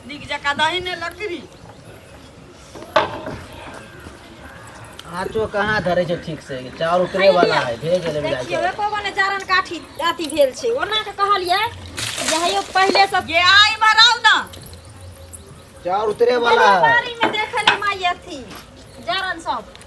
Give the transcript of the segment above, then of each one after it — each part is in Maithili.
नीक जकाँ दही ने लकड़ी आँचो कहाँ धरे छै ठीक से चाउर उतरे वाला है धीरे धीरे मिला देखियौ के एको गो ने जारन काठी अथी भेल छै ओना के कहलियै जे हयौ पहिले सब ये आई मराउ ना चाउर उतरे वाला है बारी में देखल माई अथी जारन सब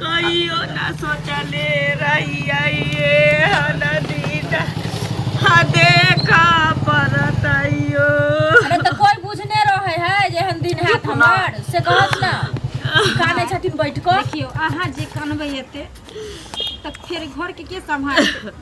कहियो ना सोचले रहिए नदीदा हा देखा परत आइयो अरे तो कोई बुझने रहे है जे हम दिन हाथ हमार से कहत ना काने छथिन बैठ को देखियो अहाँ जे कनबै एते तऽ फेर घरके के सम्हारतै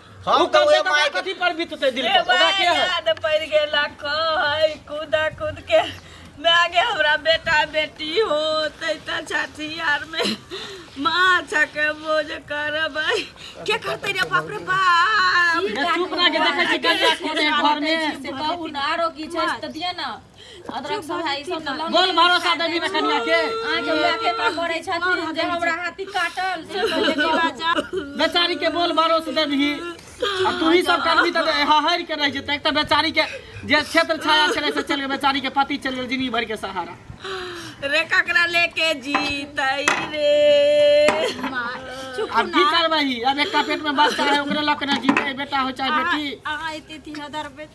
हम तऽ ओहे माय के कथी पर बीतते दिल पर ओकरा के है याद पड़ गेला कहै कूदा कूद के मैं गे हमरा बेटा बेटी हो तैता छठी यार में माँ छके बोझ करबै के करतै रे बाप रे बाप चुप रह के देखै छी कहिया खेले घर में से कहू ना आरो की छै तऽ दिए ना अदरक सब है ई सब तऽ लौंग बोल भरोसा देनी रे कनिया के अहाँ के माय के का करै छथिन जे हमरा हाथी काटल से पहिले के बच्चा बेचारी के बोल भरोसा देबही आ तू ही सब करबी तऽ हहर के रह जेतै एक तऽ बेचारी के जे क्षेत्र छाया छलै से चल गेल बेचारी के पति चल गेल जिंदगी भर के सहारा रे ककरा लेके जीतै रे अब की करबही अब एकटा पेट में बच्चा है ओकरे लऽ के ने जीतै बेटा हो चाहे बेटी अहाँ एते तीन हजार रुपए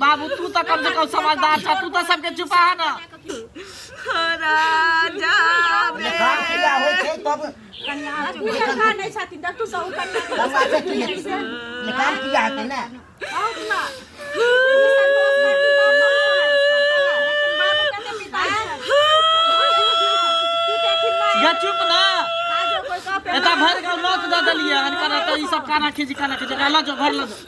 बाबू तू तऽ कम से कम समझदार छ तू तऽ सबके चुपा है ना निकाल किया है ना गे चुप ना एता भर गाँव नोच दऽ देलियै हन करत ई सब काना खींच काना खींच लऽ जो घर लऽ जो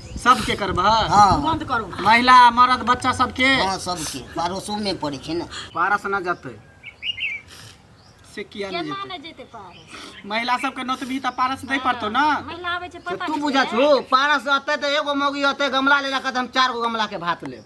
सबके करबह हँ बंद करू महिला मर्द बच्चा सबके हँ सबके पड़ोसो में पड़े छे ना पारस न जते से किया न केना जते न जेते पार महिला सबके नोतबी त पारस दे पड़तो ना महिला आबै छै पता तू बुझा छो पारस अते तो एगो मौगी अते गमला ले रखत हम चार गो गमला के भात लेब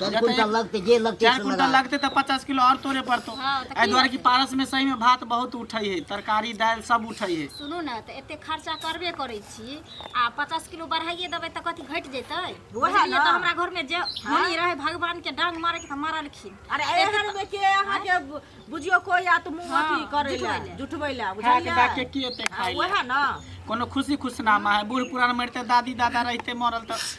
चार क्विंटल लगते जे लगते चार से क्विंटल लगा। लगते तऽ पचास किलो आओर तोड़े पड़तो हँ, तऽ एहि की दुआरे कि पारस मे सही मे भात बहुत उठै है तरकारी दालि सब उठै है सुनू ने तऽ एते खर्चा करबे करै छी आ पचास किलो बढ़ाइए देबै तऽ कथी घटि जेतै ओहे बुझलियै ने। तऽ हमरा घरमे जे होनी रहै भगवान के डांग मारे के तऽ मारलखिन अरे एहन में के अहाँ के बु- बुझियो कोई या तो मुंह अथी करे ला जुटबै ला खा के बुझलियै डाके की एते खाइ ले ओहे ना कोनो खुशी खुशनामा है बूढ़ पुरान मरते दादी दादा रहते मरल तऽ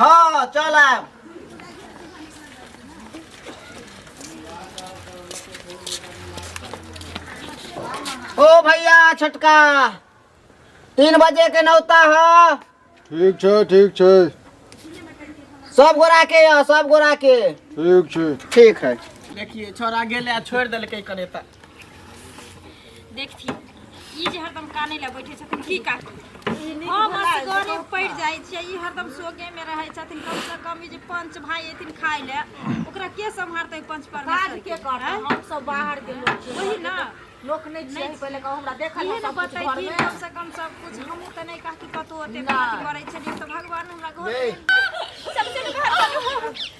हँ चल आयब ओ भैया छोटका तीन बजे के नौता है ठीक छै ठीक छै सब गोरा के यह सब गोरा के ठीक छै ठीक है देखिए छोरा गेले आ छोड़ देलकै कनेता देखथिन ई जे हरदम काने लए बैठे छथिन की कहथिन हम असगरे पड़ि जाइ छियै ई हरदम सोगे मे रहै छथिन कम से कम ई जे पंच भाई एथिन खाय ले ओकरा के सम्हारतै पंच काज परमेश्वर के करता आँय? हम सब बाहर के लोग छी। वही ना लोक नहीं छियै नहीं। पहिले कहू हमरा देखल इहे है ने सब कुछ घर बतैथिन में कम से कम सब कुछ हमहूँ तऽ नहि कहती कतहु ओते ना। बात करै छलियै तऽ भगवान हमरा घर नहीं। सबसे घर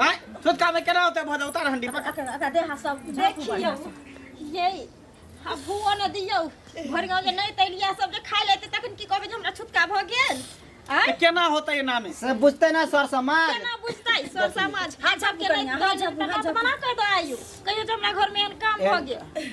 हैं छोटका में केना होते भज उतार हंडी पकड़ अका अका देहा सब देखियो ये हबुओ न दियो घर गांव के नहीं तैलिया सब जे खाइ लेते तखन की कहबे जे हमरा छुटका भ गेल आय तो केना होते ये नामे से बुझते ना सर समाज केना बुझतै सर समाज हाथ झप के नहीं हाथ झप हाथ झप मना कर दो आयु कहियो जे हमरा घर में एहन काम भ गेल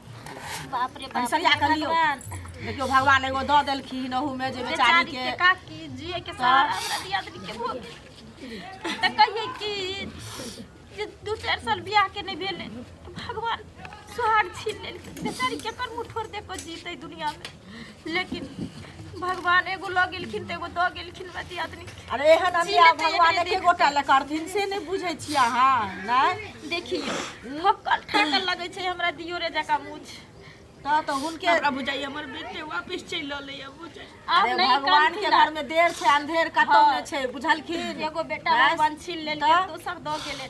बाप रे बाप सरिया कर लियो देखियो भगवान एगो दऽ देलखिन ओहूमे जे बेचारी के काकी जिए के सहारा हमरा दिया दी के भोग तऽ कहिए कि जे दू चारि साल बियाह के नहि भेलै भगवान सुहाग छीन लेलखिन बेचारी केकर मुँह ठोर देखो जीतै दुनियामे लेकिन भगवान एगो लऽ गेलखिन तऽ एगो दऽ गेलखिन मति आदमी अरे एहन जी, अन्याय लेतै भगवान एकरे एके देह। गोटा लए करथिन से नहि बुझै छियै अहाँ नहि देखिए ठोकर ठाकर लगै छै हमरा दियो रे जका मुछ तऽ तऽ हुनके हमरा बुझाइए हमर बेटे वापस चलि रहलै है बुझाइ आब अरे नहीं भगवान कान के घर में देर छै अंधेर कतौ हाँ। ने छै बुझलखिन एगो बेटा बस। बन छीन लेलकै तऽ? दोसर दऽ गेलै